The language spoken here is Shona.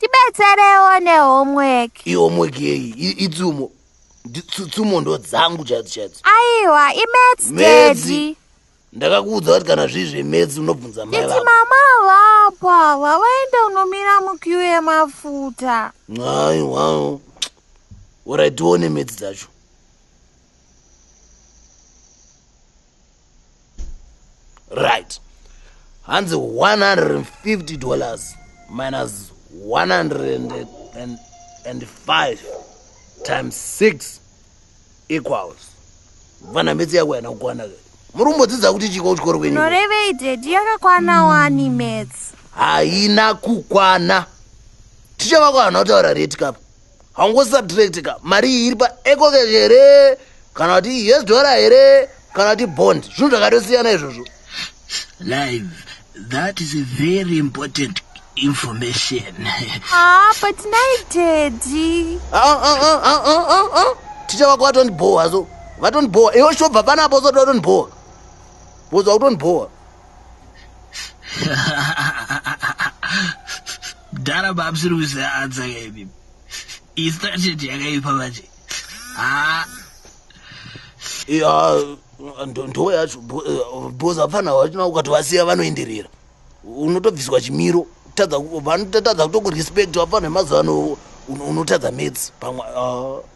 tibetserewo nehomework ihomework yeyi itsumo tsumo ndo dzangu chaidzo chaidzo aiwa imets dedi ndakakuudza kuti kana zvii zvemets unobvunza mai vako mama vapa vavaenda unomira mukiu yemafuta aiwa orai tione mets dzacho right hanzi 150 dollars minus 105 times 6 equals vana metsi yako yana kukwana ke muri kumbodzidza kuti chiko kuchikoro kwenyu norevei dedi yakakwana wani metsi haina kukwana ticha vako hana kutaura reti kapo haungosubtract ka mari iyi iri paecocash here kana kuti yes dora here kana kuti bond zvinhu zvakatosiyana izvozvo live that is a very important information ah, but nai tedi ah, ah, ticha vako vatondibhowa so vatondibhowa iwe shobva panapo usati vatondibhowa vozva kutondibhowa mdhara mamusiri kuseanza kaimi istrategy yakaipa manje haa ya ndoo yacho bcoz hapana vachina ukatovasiya vanoenderera unotobviswa chimiro vanotadza kutokurespect vapana vemazuva ano unotadza mats pamwe ah.